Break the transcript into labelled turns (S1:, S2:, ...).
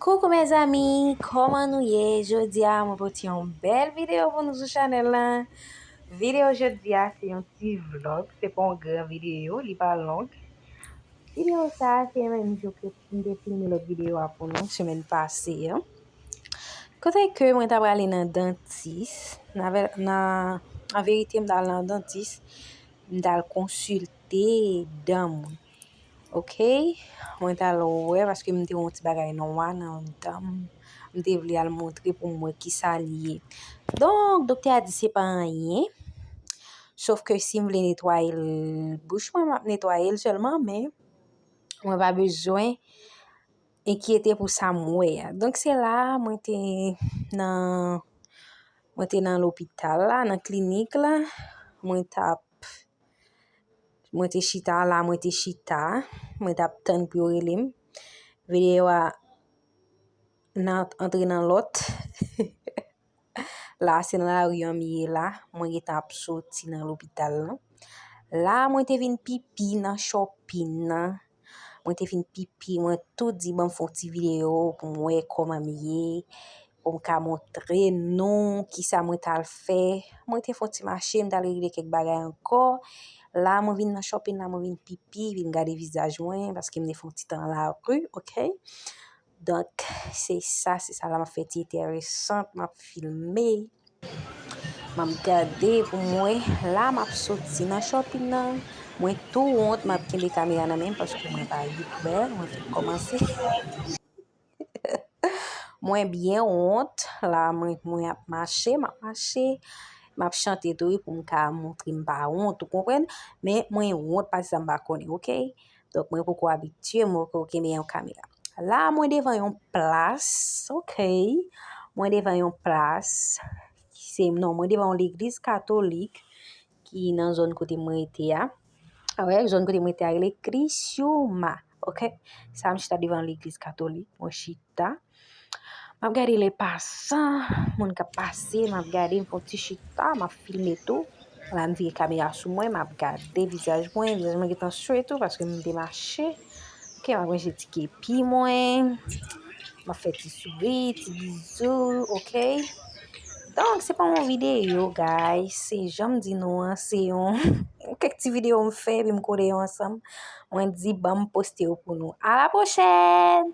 S1: Coucou mes amis, kòman nou ye? Jodi a mwen pote yon bèl video pou nou sou chanel la. Video jodi a se yon ti vlog, se pa yon gran video, li pa long. Video sa se menm jou ke m te filme lòt video a pou nou semèn pase a. Kote ke mwen ta prale nan dantis, nan verite m ta al nan dantis, m ta al konsilte dan mwen. Ok mwen ta lo wè paske mte won ti bagay nwa nan danm mte vle al montre pou mwen ki sa li ye donk doktè a di se pa anyen sof ke si m vle netwaye l bouch mwen map netwaye l selman men mwen pa bezwen enkyete pou sa m wè a donk se la mwen te nan mwen te nan lopital la nan klinik la mwen tap Mwen te chita la, mwen te chita. Mwen tap tann pou yo rele m. Videyo a nan antre nan lòt. La se nan lari an m ye la. Mwen gen tan ap soti nan lopital la. La mwen te vin pipi nan chòpin nan. Mwen te fin pipi mwen tou di banm fon ti video pou mwen wè koman m ye pou m ka montre nou kisa mwen tal fè mwen te fon ti mache m tal regle kèk bagay ankò la mwen vin nan shopping la mwen vin pipi vin gade vizaj mwen paske m te fon ti tan nan lari ok. Donk, se sa, se sa la m ap fè ti enteresant, m ap filme. M ap gade pou m wè. La m ap soti nan shopping nan. Mwen tou wont m ap kenbe kamera nan men m paske mwen pa youtber, mwen fèk kòmanse. Mwen byen wont. La mwen ap mache, m ap mache. M ap chante tou wi pou m ka montre m pa wont, ou konprann? Men mwen wont pati sa m pa konnen, ok? Donk mwen poko abitye mwen poko kenbe yon kamera. La mwen devan yon plas, ok, mwen devan yon plas, ki se non, mwen devan yon legliz katolik, ki nan zon kote mwen rete a, ok, zon kote mwen rete a rele Krisioma, ok, sa mwen chita devan yon legliz katolik, mwen chita, Map gade le pasan, moun kap pase, map gade m fon ti chita, map filme tou. Wala m vire kamera sou mwen, map gade vizaj mwen, vizaj mwen gentan swe tou paske m te mache. Ok, map manje ti kepi mwen, map fè ti souri, ti bizou, ok. Donk, se pa yon videyo, guys, se janm di nou an, se yon kèk ti videyo m fè epi m kole yo ansanm. Mwen di banm poste yo pou nou. A la pwochèn!